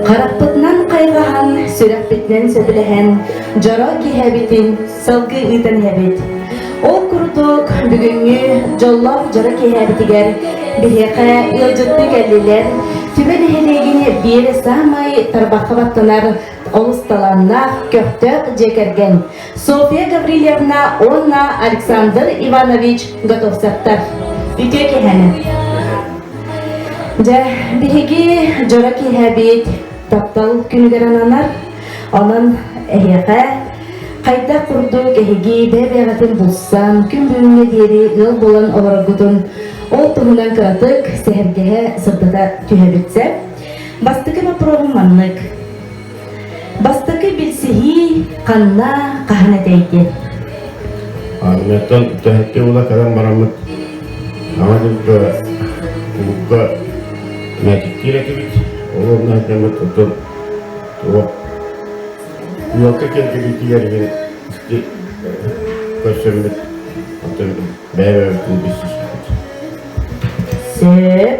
Харахпытынан хайҕаһан, сүрэхпитинэн сөбүлэһэн, дьоро киһибитин сылгы ыытан иһэбит. Ол курдук бүгүҥҥү дьоллоох дьоро киһибитигэр биһиэхэ ыалдьыттыы кэллилэр Түбэ нэһилиэгин биир саамай тарбахха баттанар олус талааннаах көхтөөх дьиэ кэргэн Софья Гаврильевна уонна Александр Иванович Готовцевтар. Үтүө киһэни. Дьэ, биһиги дьоро киэһэбит таптал күнүгэр ананар. Онон эһиэхэ хайдах курдук эһиги бэйэ-бэйэҕитин булсан, күн бүгүҥҥэ диэри ыал буолан олороргутун ол туһунан кыратык сэһэргэһэ сырдата түһэбит сөп. Бастакы боппуруоһум маннык. Бастакы билсиһии ханна, хаһан этэй диэн. Армияттан үтэһэкке ула кэлэн бараммыт ама дылда кубукка мәтиктиир этибит ол онна кэммит оттон туох уокка кэлгибитигэргин көрсөммүт оттон бэйэ-бэйэбитин билсиспит Сөп.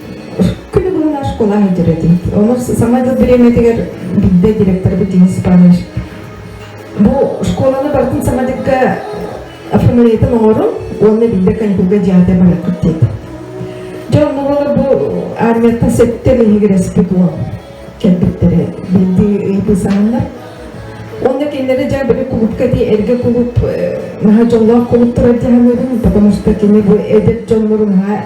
Күн буолар школаҕа иитэрэтим. Ону саамай тыл бириэмэтигэр билбэт директорбыт Денис Иванович бу школаны бартын самадыкка фамилиятын оҥорун уонна билбэт каникулга дьиэде барыахпыт диэтэ. Дьэ онно буолар бу армияттан сэттэ иһигирэспит уол кэлбиттэрэ билди ыйбы сааннар. Онна кинилери дьэ били кулупка дии эргэ кулуп наһа дьоллоох кулуп турар дьаһамыырын потому что кини бу эдэр дьоннорун ха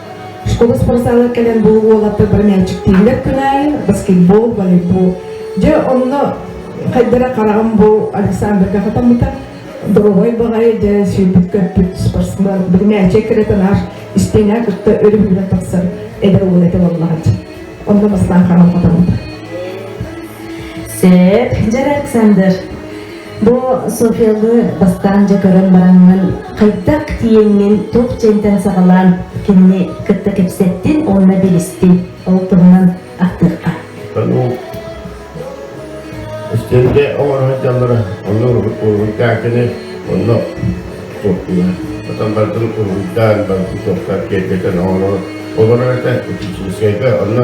Школа спортзала кэлэн бу уолаттар бары мээчиктииллэр күн аайы баскетбол, волейбол. Дьэ онно хайдара хараҕым бу Александрга хатаммыта доровой баҕайы дьэ сүйбүт көппүт спортсмен бiri мээчик кыратанар истиҥэ кытта өрүһүрэ тахсар эдэр уол этэ боллаҕыт онно бастаан хараҕым хатаммыта Сет, дьэр Александр Бу Софияны бастаан дьэ көрөн бараҥҥын, хайдах тииҥҥин туох дьиэнтэн саҕалаан кинини кытта кэпсэттин уонна билистин. Ол туһунан ахтыахха. Үстэлгэ оҥорон дьаллара онно уруһуйдаатыны онно суоттуга. Потом бардын уруһуйдаан барбы суоттар киэргэтэн оҥорон олорор это учительскайга онно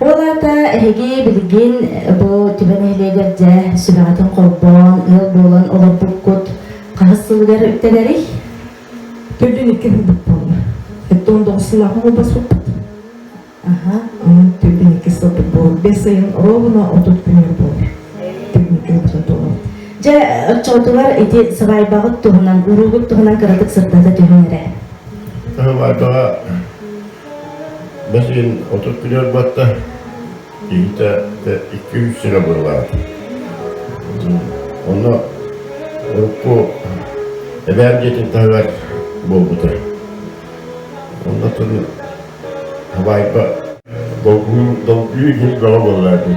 Ол аата эһиги билигин бу түбэ нэһилиэгэр дьэ сүбэҕитин холбоон, ыал буолан олорбуккут хаһыс сылыгар үктэнэрий? Төрдүн икки ылбыт буолла. Эттэ он доҕусунааҕы холбоспуппут. Аха, онон төрдүн икки сылбыт буолла. Бес ыйын ровно отут күнүн буолла. Төрдүн икки ылбыт буолла. Дьэ, оччотугар ити сабайбаҕыт туһунан, уруугут туһунан кыратык сырдата түһүн эрэ. Сабайбаҕа Бэсин отут күлүөр батта, киһитэ икки-үс сир абырылаах. Онно урукку эбээр дьиэтин таһыгар буолбута. Оннотун Хабаайба долгуйуу иһин бөҕө буоллаатын.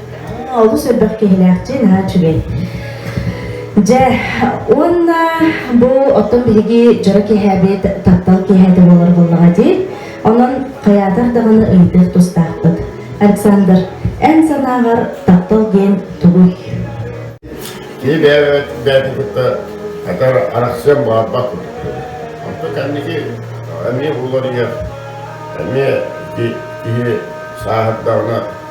Уонна олус элбэх киһилээхтии наһаа үчүгэй. Дьэ, уонна бу оттон биһиги дьоро киэһээбит таптал киэһээтэ буолар буоллаҕа дии. Онон хайаатар даҕаны өйдүөх тустаахпыт. Александр, эн санааҕар таптал диэн тугуй? Кини бэйэбит бэйэтин кытта хатар арахсыан баарбат Онтон кэнники эмиэ булар ийэ эмиэ киһи сааһырдаҕына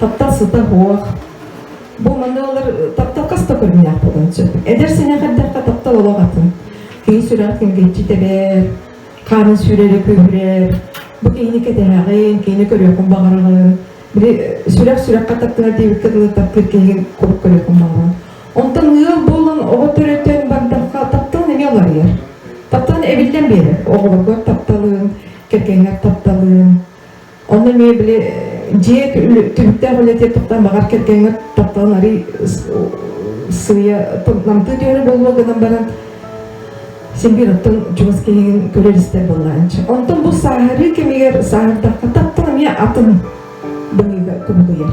таптал сыта-хуох, бу манна олор таптал хаста көрүннээх буолан сөп. Эдэр сэнэх эрдэххэ таптал олох атын. Киһи сүрэх күнгэччи тэбэр, хаана сүрэрэ күүһүрэр. Бу киһини кэтэһэҕин, киһини көрүөххүн баҕарыгын. Били сүрэх сүрэххэ таптыгар диэбиккэ дылы таптыыр киһигин куруук көрүөххүн баҕаран. Онтон ыал буолан оҕо төрөтөн бардахха таптал эмиэ уларыйар. Таптал эбиллэн биэрэр. Оҕолоргор тапталын, кэргэҥҥэр тапталын, Онно эмиэ били дьиэ түһүктээх үлэтиэ туттан баҕар кэргэҥҥэ тапталын арый сыыйа намтыы түһэрэ буолуо гынан баран симбир оттон чугас киһиҥин көрөр истэр буоллаанчы онтон бу сааһырыы кэмигэр сааһырдахха таптал эмиэ атын быһыыга кубулуйар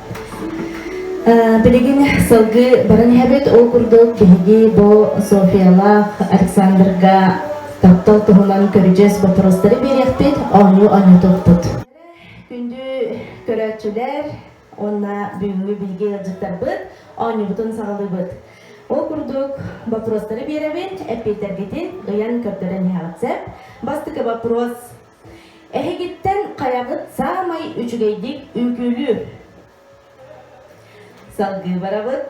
Билигин сылгы барын иһэбит. Ол курдук биһиги бу Софиялаах Александрга таптал туһунан көрүдьүөс боппуруостары биэриэхпит, оонньуу оонньуутуппут. Күндү көрөөччүлэр уонна бүгүҥҥү биһиги ыалдьыттарбыт оонньуубутун саҕалыыбыт. Ол курдук боппуруостары биэрэбин, эппиэтэргитин ыйан көрдөрөн иһэҕит сөп. Бастакы боппуруос Эһигиттэн хайаҕыт саамай үчүгэйдик үҥкүүлүүр? Салгыы барабыт.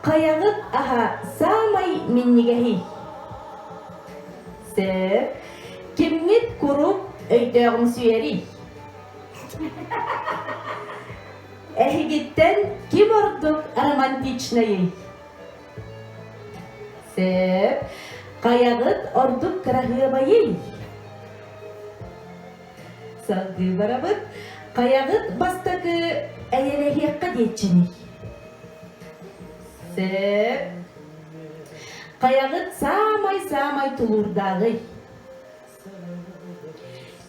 Хайаҕыт аһа саамай минньигэһий? Сөп. Кимҥит куруук өйдөөҕүмсүйэрий? Эһигиттэн ким ордук романтичнайый? Сөп. Хайаҕыт ордук кыраһыабайый? Салгыы барабыт. Хайаҕыт бастакы эйэлэһиэххэ диэччиний? Сөп. Хайаҕыт саамай-саамай тулуурдааҕый?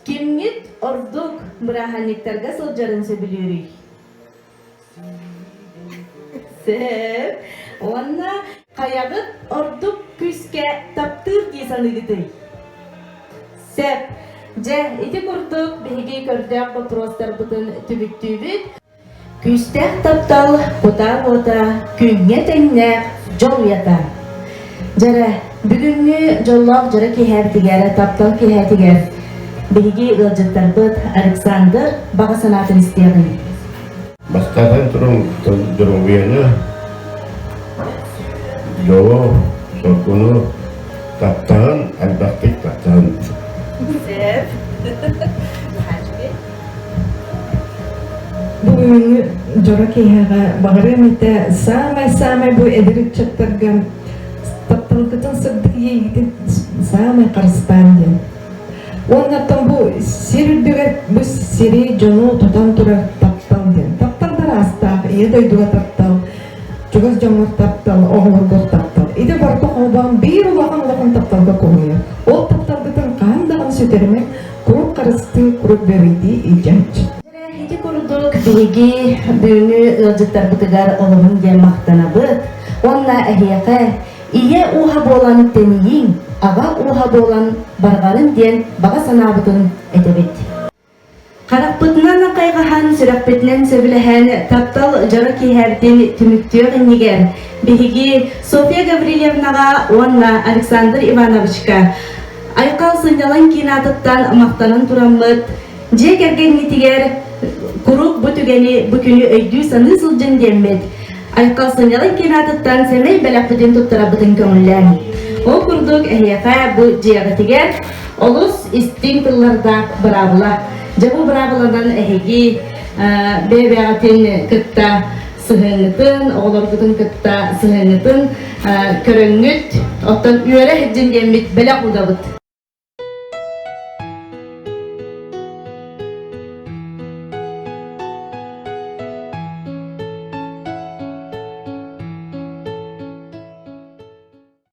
Кимҥит ордук бырааһынньыктарга сылдьарын сөбүлүүрүй? Сөп. Уонна хайаҕыт ордук күүскэ таптыыр дии саныыгытый? Сөп. Дьэ, ити курдук биһиги көрдөөх боппуруостарбытын түмүктүүбүт. Күүстээх таптал кутаа уота күҥҥэ тэҥнээх дьол уйата. Дьэрэ, бүгүҥҥү дьоллоох дьоро киэһээтигэр, таптал киэһээтигэр биһиги ыалдьыттарбыт Александр баҕа санаатын истиэҕиҥ. Бастатан туран, доруобуйаны, дьолу, соргуну, таптаһын, элбэхтик таптаһын. Сөп. Бүгүҥҥү дьоро киһиэҕэ баҕарыам этэ саамай-саамай бу эдэр ыччаттарга тапталгытын сырдык иэйиитин саамай харыстааҥ диэн. Уоннаттан бу сир үрдүгэр бу сири дьону тутан турар таптал диэн. Тапталдар аастаах, ийэ дойдуга таптал, чугас дьоҥҥор таптал, оҕолоргор таптал. Ити барыта холбоон биир улахан улахан тапталга кубуйар. Ол тапталгытын хаһан даҕаны сүтэримэҥ, Курук харыстыы курук бэрийдии илдьээч. Ити курдук биһиги бүгүҥҥү ыалдьыттарбытыгар олоһун диэн махтанабыт. Онна эһиэхэ ийэ ууһа буолан тэнийиҥ, аҕа ууһа буолан барҕарын диэн баҕа санаабытын этэбит. Харахпытынан хайҕаһан, сүрэхпитинэн сөбүлэһэн, таптал дьоро киэһэрдин түмүктүөх иннигэр биһиги Софья Гаврильевнаҕа уонна Александр Ивановичка Айхал сынньалаҥ кинатыттан махтанан тураммыт, дьиэ кэргэҥҥитигэр куруук бу түгэни бу күнү өйдүү-саныы сылдьын диэммит. Айхал сынньалаҥ кинатыттан сэмэй бэлэхпитин туттарарбытын көҥүллээн. Ол курдук эһиэхэ бу дьиэҕитигэр олус истиҥ тыллардаах быраабыла. Дьэ бу быраабыланан эһиги бэйэбээҕитин кытта сыһыаннытын, оҕолоргутун кытта сыһыаннытын көрөҥҥүт, оттон үөрэ сылдьын диэммит бэлэх удабыт.